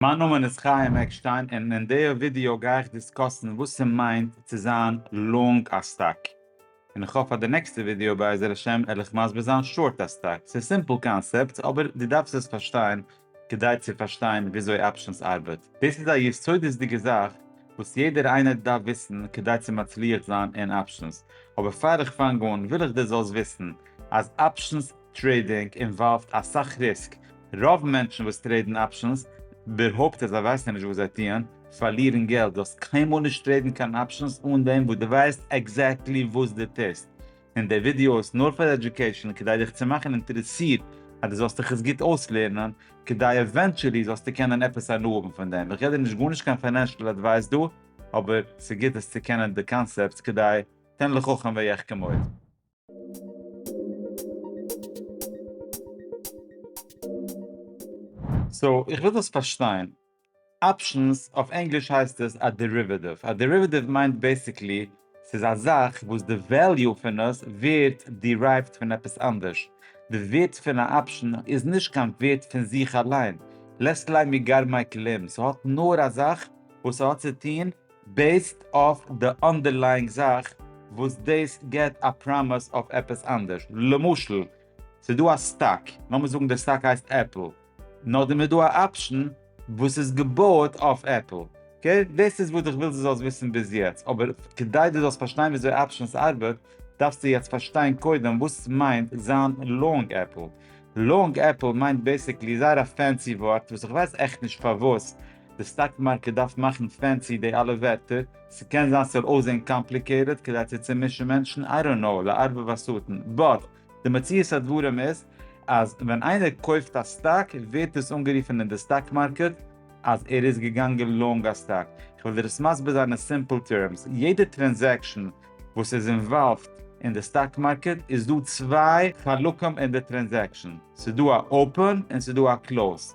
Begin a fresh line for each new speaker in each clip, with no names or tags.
מיין נאמען איז חיים עקשטיין און אין דער ווידעא גיי איך דיסקאסן וואס ס'מיינט צו זיין לאנג א סטאק, און איך האף אז די נעקסטע ווידעא בעזר השם על איך מסביר זיין שארט א סטאק, ס'איז סימפל קאנסעפטס אבער דו דארפסט עס פארשטיין כדי צו פארשטיין וויאזוי אפשענס ארבעט, דאס איז א יסודות'דיגע זאך וואס יעדער איינער דארף וויסן כדי צו מצליח זיין אין אפשענס, אבער פאר איך פאנג אן וויל איך דו זאלסט וויסן אז אפשענס. טרעידינג אינוואלווד אסאך ריסק, רוב מענטשן וואס טרעידן אפשענס, באהויפט אז זיי ווייסן נישט וואס זיי טוען, פארלירן געלט, דו האסט קיינמאל נישט טרעידן קיין אפשענס אן דעם וואס דו ווייסט עקזעקטלי וואס דו טוסט, און די ווידיאו איז נאר פאר עדיוקעישאן כדי דיך צו מאכן אינטערעסירט אז דו זאלסט דיך עס גוט אויסלערנען כדי עווענטשעלי זאלסטו קענען עפעס הנאה האבן פון דעם, איך גיב דיר נישט גארנישט קיין פיינענשעל עדווייס דא, אבער ס'איז גוט עס צו קענען די קאנסעפטס כדי תן לחכם ויחכם עוד. סאו איך וויל דאס פארשטיין. אפשענס אויף ענגליש הייסט עס א דעריוועטיוו. א דעריוועטיוו מיינט בעיסיקלי ס'איז א זאך וואס די וועליו פון עס ווערט דירייווט פון עפעס אנדערש. די ווערט פון א אפשען איז נישט קיין ווערט פון זיך אליין. לעסט ליין מגר מייקל אים. ס'האט נאר א זאך וואס ס'האט צו טון בעיסד אויף די אנדערלייאינג זאך וואס דאס געט א פראמיס אויף עפעס אנדערש, למשל ס'איז דא א סטאק, לאמיר זאגן די סטאק הייסט עפל, נאכדעם איז דא א אפשן וואס איז געבויעט אויף עפל, אקעי? דאס איז וואס איך וויל דו זאלסט וויסן ביז יעצט, אבער כדי דו זאלסט פארשטיין וויאזוי אפשענס ארבעט דארפסטו יעצט פארשטיין קודם וואס מיינט זיין לאנג עפל. לאנג עפל מיינט בעיסיקלי זייער א פענסי ווארט וואס איך ווייס עכט נישט פארוואס די סטאק מארקעט דארף מאכן פענסי די אלע ווערטער, ס'קען זיין ס'זאל אויסזעהן קאמפליקעיטעד כדי צו צומישן מענטשן, איי דאנט נאו, לערבב השטן, באט די מציאות הדברים איז אז ווען איינער קויפט א סטאק ווערט דאס אנגערופן אין די סטאק מארקעט אז ער איז געגאנגען לאנג א סטאק, כ'וועל דיר עס מסביר זיין אין סימפל טערמס, יעדע טרענזעקשן וואס איז אינוואלווד אין די סטאק מארקעט איז דא צוויי חלקים אין די טרענזעקשן, ס'דא א אופען און ס'דא א קלאוזד,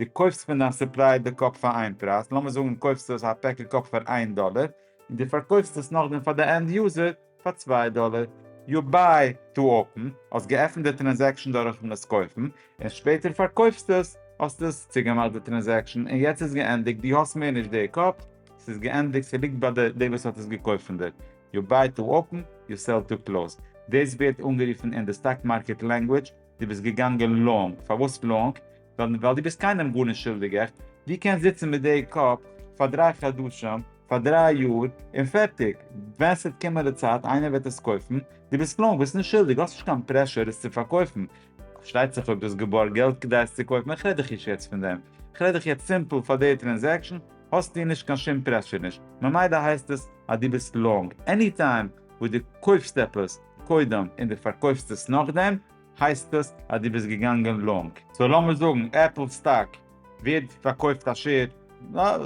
דו קויפסט פון דיין סופלייער די קאפ פאר איין פרייז, לאמיר זאגן קויפסטו עס א פעקל קאפ פאר איין דאלער, און דו פארקויפסט עס נאכדעם פאר די ענד יוזער פאר צוויי דאלער. יו ביי טו אפען, האסט געעפנט די טרענזעקשאן דורכן עס קויפן, און שפעטער פארקויפסטו עס, האסט עס צוגעמאכט די טרענזעקשאן, און יעצט איז געענדיגט, דו האסט מער נישט די קאפ, ס'איז געענדיגט, ס'ליגט ביי די די וואס האט עס געקויפט פון דיר. יו ביי טו אפען, יו סעל טו קלאוז. דאס ווערט אנגערופן אין די סטאק מארקעט לענגוויטש. דו ביסט געגאנגען לאנג, פארוואס לאנג? ווייל דו ביסט קיינעם גארנישט שולדיג, עכט? דו קענסט זיצן מיט די קאפ פאר דריי חדשים, פאר דריי יאר, און פערטיג, ווען ס'וועט קומען די צייט איינער וועט עס קויפן, דו ביסט לאנג, ביסט נישט שולדיג, האסט נישט קיין פרעשור עס צו פארקויפן, פארשטייט זיך אויב דו האסט געבארגט געלט כדי עס צו קויפן, איך רעד דיך נישט יעצט פון דעם, איך רעד דיך יעצט סימפל פאר די טרענזעקשן האסטו נישט קיין שום פרעשור נישט, ממילא הייסט עס אז דו ביסט לאנג, עני טיים וואס דו קויפסט עפעס, קודם און די פארקויפסט עס נאכדעם הייסט עס אז די ביסט געגאנגען לאנג. סאו לאמיר זאגן עפל סטאק ווערט פארקויפט א שעיר,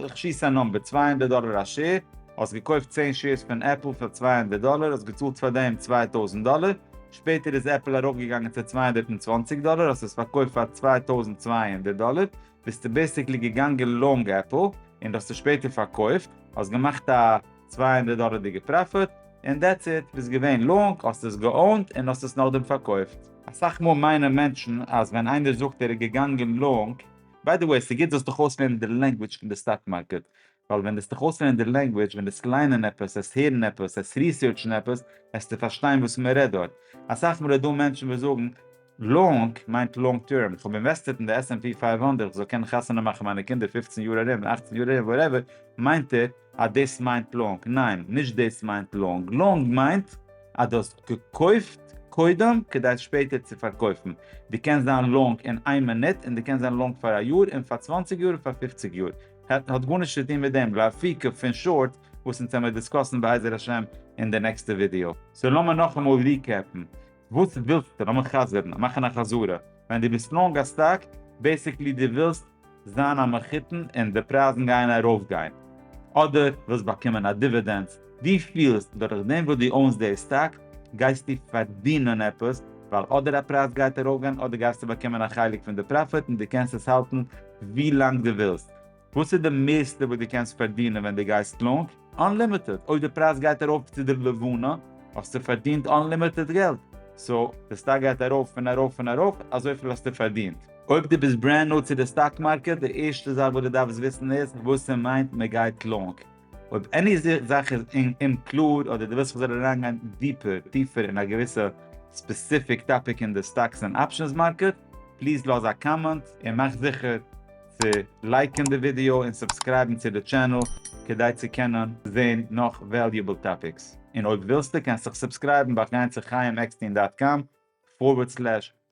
איך שיס א נומבער, צוויי הונדערט דאלער א שעיר, האסט געקויפט צען שעירס פון עפל פאר צוויי הונדערט דאלער, האסט געצאלט פאר דעם צוויי טויזנט דאלער, שפעטער איז עפל ארויפגעגאנגען צו צוויי הונדערט און צוואַנציק דאלער האסט עס פארקויפט פאר צוויי טויזנט צוויי הונדערט דאלער, ביסטו בעסיקלי געגאנגען לאנג עפל און די האסט עס שפעטער פארקויפט, האסט געמאכט א צוויי הונדערט דאלערדיגע פראפיט און דעטס איט, ביסט געווען לאנג, האסט עס געאונט און האסט עס נאכדעם פארקויפט. אסאך מאל מיינען מענטשן אז ווען איינער זאגט ער איז געגאנגען לאנג, ביי די וועי ס'גוט זאלסט דיך אויסלערנען די לענגוויטש פון די סטאק מארקעט, ווייל ווען דו זיך אויסלערנען די לענגוויטש, ווען דאס ליינען עפעס, עס הערן עפעס, עס ריסערטשן עפעס, העסטו פארשטיין וואס מ'רעדט דארט. אסאך מאל איז דא מענטשן וואס זאגן. לאנג מיינט לאנג טערם, איך האב אינוועסטעט אין די עס ענד פי פייוו הונדערט איך זאל קענען חתונה מאכן מיינע קינדער פֿופֿצן יאר ארום און אַכצן יאר ארום וואטעווער, מיינט ער אז דאס מיינט לאנג? ניין, נישט דאס מיינט לאנג, לאנג מיינט אז דו האסט געקויפט קודם כדי שפעטער צו פארקויפן, דו קענסט זיין לאנג אין איין מינוט און דו קענסט זיין לאנג פאר א יאר און פאר צוואַנציק יאר און פאר פֿופֿציק יאר, האט גארנישט צו טון מיט דעם גראפיקע פון שארט וואס אונז העמיר דיסקאסן בעזר השם אין די נעקסטע ווידיאו. סאו לאמיר נאכאמאל ריקעפן, וואס ווילסטו? לאז מיך חזר'ן, מאכן א חזרה. ווען דו ביסט לאנג א סטאק, בעיסיקלי דו ווילסט זיין א מחותן און די פרייזן גייען ארויפגיין, אדער ווילסט באקומען א דיווידענס. דו פילסט דורך דעם וואס דו אוינס די סטאק, גייסטו פארדינען עפעס, ווייל אדער א פרייז גייט ארויפגיין אדער גייסטו באקומען א חלק פון די פראפיט און דו קענסט עס האלטן ווי לאנג דו ווילסט. וואס איז די מערסטע וואס דו קענסט פארדינען ווען דו גייסט לאונג? אנלימיטעד, אויב די פרייז גייט ארויף צו די לבנה האסטו פארדינט אנלימיטעד געלט, סאו די סטאק גייט ארויף און ארויף און ארויף, אזויפיל האסטו פארדינט. אויב דו ביסט ברענד ניו צו די סטאק מארקעט, די ערשטע זאך וואס דו דארפסט וויסן איז וואס ס'מיינט מ'גייט לאונג. אויב עני זאך איז אומקלאר אדער דו ווילסט איך זאל אריינגיין דיפער, טיפער, אין א געוויסע ספעסיפיק טאפיק אין די סטאקס און אפשענס מארקעט, פליז לאז א קאמענט, און מאך זיכער צו לייקן די ווידיאו און סובסקרייבן צו די טשענעל כדי צו קענען זען נאך וועליובעל טאפיקס, און אויב ווילסטו קענסט דיך סובסקרייבן דורך גיין צו חייםעקסטין דאט קאם פארווערד סלעש